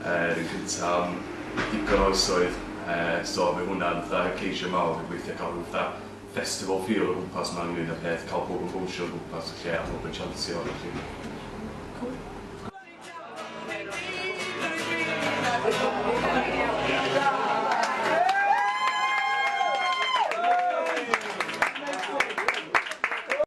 Yr un cynta am ddigon o oesoedd so fy hwnna fatha y ceisiau mawr yw gweithio cael rhyw fatha festival feel o gwmpas ma ynglyn a peth cael pobl yn bownsio o gwmpas y lle a pobl yn chansio a felly cŵl.